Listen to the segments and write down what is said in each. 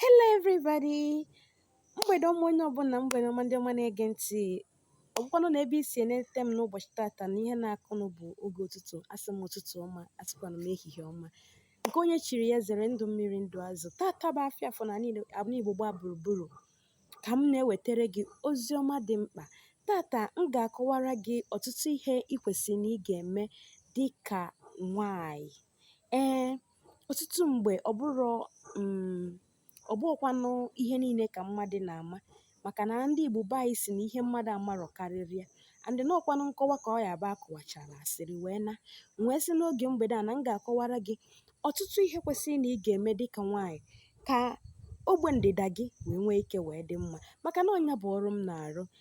Hello everybody! Mgbede ọma onye ọbụla mgbede ọma ndị ọma na-ege ntị. Ọ bụkwanụ na ebe i si enete m n'ụbọchị tata na ihe na-akụnụ bụ oge ụtụtụ, asị m ụtụtụ ọma, asịkwanụ m ehihie ọma. Nke onye chiri ya zere ndụ mmiri ndụ azụ. Tata bụ afịa afọ n'ala Igbo gbaa gburugburu ka m na-ewetara gị ozi ọma dị mkpa. Tata m ga-akọwara gị ọtụtụ ihe ị kwesịrị na ị ga-eme dị ka nwaanyị. Ee, Ọtụtụ mgbe ọ bụrụ um ọ bụghịkwanụ ihe niile ka mmadụ na-ama maka na ndị Igbo be anyị sị na ihe mmadụ amarọ karịrị ya and na ọkwanụ nkọwa ka ọ ya bụ akọwachara asịrị wee naa m wee sị n'oge mgbede a na m ga-akọwara gị ọtụtụ ihe kwesịrị na ị ga-eme dịka nwaanyị ka ogbe ndịda gị wee nwee ike wee dị mma maka na ọ nya bụ ọrụ m na-arụ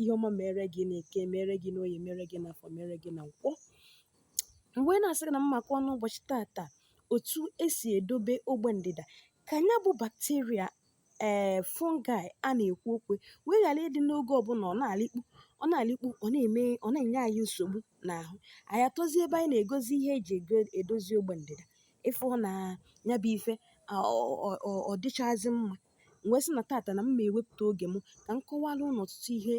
ihe ọma mere gị n'eke mere gị n'oye mere gị n'afọ mere gị na nkwọ m wee na-asị gị na m ma-akọ n'ụbọchị tata otu esi edobe ogbe ndịda ka ya bụ bacteria ee fungi a na-ekwu okwu wee ghara ịdị n'oge ọbụla ọ na-alịkpu ọ na-alịkpu ọ na-eme ọ na-enye anyị nsogbu n'ahụ anyị atọzie ebe anyị na-egozi ihe eji ego edozi ogbe ndịda ị fụ na ya bụ ife ọ dịchazi mma m wee sị na tata na m ma-ewepụta oge m ka m kọwara unu ọtụtụ ihe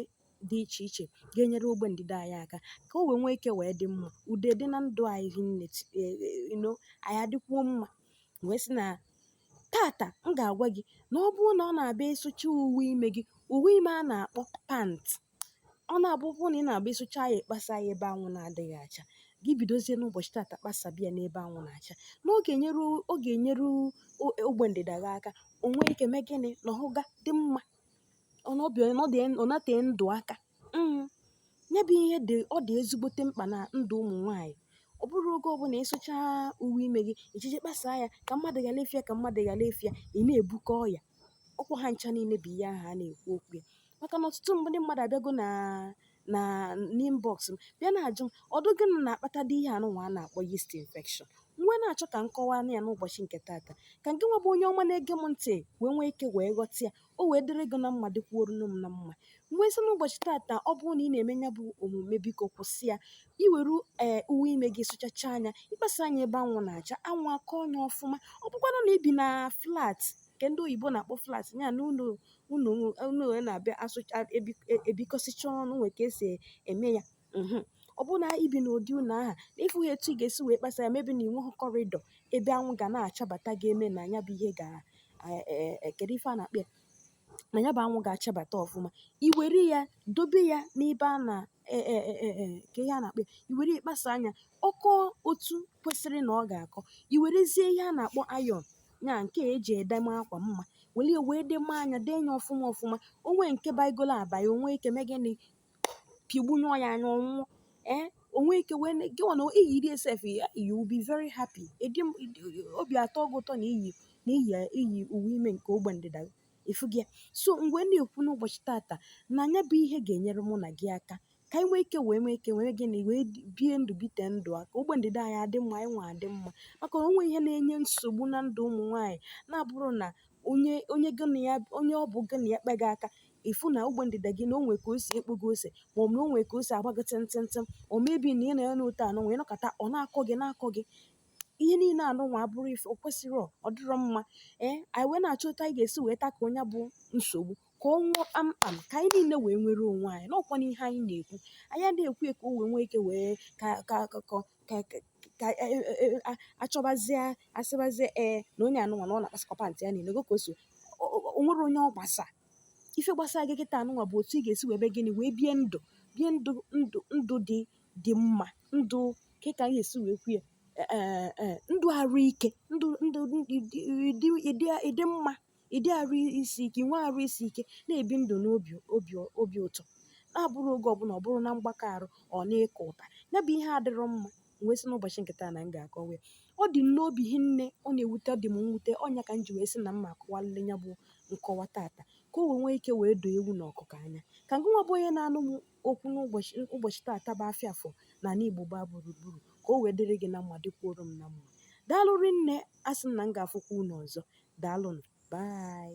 dị iche iche ga-enyere ogbe ndịda anyị aka ka o wee nwee ike wee dị mma udo dị na ndụ anyị hinne ti- e- e- you know, anyị adịkwuo mma m wee sị na tata m ga-agwa gị na ọ bụrụ na ọ na-abịa ịsụcha uwe ime gị uwe ime a na-akpọ pant ọ na-abụ ọ bụrụ na ị na-abụ ị sụchaa ya ị kpasa ya ebe anwụ na-adịghị acha gị bidozie n'ụbọchị tata kpasaba ya n'ebe anwụ na-acha na ọ ga-enyere ọ ga-enyere o- ogbe ndịda gị aka o nwee ike mee gịnị na ọ ga dị mma ọ na ọbịa ọ dị ọ nọte ndụ aka mm. ya bụ ihe dị ọ dị ezigbote mkpa na ndụ ụmụ nwaanyị ọ bụrụ oge ọbụla ị sụchaa uwe ime gị i jeje kpasaa ya ka mmadụ ghara ịfụ ya ka mmadụ ghara ịfụ ya ị na-ebukọ ọya ọkwa ha ncha niile bụ ihe ahụ a na-ekwu okwu ya maka na ọtụtụ ndị mmadụ abịago na na n'inbox m bịa na-ajụ m ọdụ gịnị na-akpatadị ihe anụnwa a na-akpọ yeast infection m wee na-achọ ka m kọwaa ya n'ụbọchị nke taata ka gị nwa bụ onye ọma na-ege m ntị wee nwee ike wee ghọta ya o wee dịrị gị na mma dịkwuorunu m na mma m wee sị n'ụbọchị taata ọ bụrụ na ị na-eme ya bụ omume biko kwụsị ya i were ee uwe ime gị sụchachaa nya ị kpasaa nya ebe anwụ na-acha anwụ akọọ nya ọfụma ọ bụkwanụ na i bi na flat nke ndị oyibo na-akpọ flat ya na ụlọ unu unu wee na-abịa asụcha ebi e, ebikọsịcha ọnụ nwee ka esi eme ya mhm. ọ bụrụ na i bi n'ụdị ụlọ aha na ị fụhọ etu ị ga-esi wee kpasa ya maybe na i nwehọ corridor ebe anwụ ga na-achabata ga-eme na ya bụ ihe ga kedu e, e, ife a na-akpọ ya na ya bụ anwụ ga-achabata ọfụma i were ya dobe ya n'ebe a na ka ihe a na-akpọ i were kpasaa nya ọ kọọ otu kwesịrị na ọ ga-akọ i werezie ihe a na-akpọ iron ya nke eji edeme akwa mma were ya wee deme anya dee ya ọfụma ọfụma o nwee nke baigolo abai o nwee ike mee gịnị pịgbunyụọ ya anya ọ nwụọ ee o nwee ike wee ne- gịnwa na iyi dị esef you will be very happy ịdị m- ịdị- obi atọọ gị ụtọ na iyi na iyi iyi uwe ime nke ogbe ndịda gị ịfụ gị ya so m wee na-ekwu n'ụbọchị tata na nya bụ ihe ga-enyere mụ na gị aka ka anyị nwee ike wee nwee ike wee gịnị wee bie ndụ bite ndụ a ka ogbe ndịda anyị adị mma anyị nwa adị mma maka na o nwee ihe na-enye nsogbu na ndụ ụmụ nwaanyị na-abụrụ na onye onye gị na ya onye ọ bụ gị na ya kpa gị aka ị fụ na ogbe ndịda gị na o nwee ka o si ekpo gị ose ma ọ bụ na o nwee ka o si agba gị tịntịntịm or maybe na ị na ya otu anụnwa nọkọta ọ na-akọ gị na-akọ gị ihe niile anụnwa abụrọ ife o kwesịrị ọ dịrọ mma ee anyị wee na-achọ otu anyị ga-esi wee tackle nya bụ nsogbu ka ọ nwụọ kpamkpam ka anyị niile wee nwere onwe anyị n'ọkwa na ihe anyị na-ekwu anyị adịghị ekwu ya ka o wee nwee ike wee ka ka ka ka ka ka- ka e- e- e- a- achọbazie asịbazie ee na onye anụnwa na ọ na-akpasakwa pantị ya niile goka o so o- o- o nwerọ onye ọ gbasa ife gbasara gị kịta anụnwa bụ otu ị ga-esi wee be gịnị wee bie ndụ bie ndụ ndụ ndụ dị dị mma ndụ kee ka anyị ga-esi wee kwu ya ee ee, ndụ arụ ike ndụ ndụ dị dị- dị- dị mma ịdị arụ isi ike inwe arụ isi ike na-ebi ndụ n'obi obi obi ụtọ na-abụrọ oge ọbụla ọ bụrụ na mgbakọ arụ ọ na-eke ụta ya bụ ihe adịrọ mma wee sị n'ụbọchị nke taa na m ga-akọwa ya ọ dị m n'obi hinne ọ na-ewute ọ dị m mwute ọ nya ka m ji wee sị na m ma-akọwalịlị ya bụ nkọwa tata ka o wee nwee ike wee doo ewu na ọkụkọ anya ka ngịnwa bụ onye na-anụ m okwu n'ụbọchị ụbọchị tata bụ afịa afọ na ala igbo gbaa gburugburu ka o wee dịrị gị na mma dịkwuoro m na mma daalụ rinne asị m na m ga-afụkwa unu ọzọ daalụnụ bye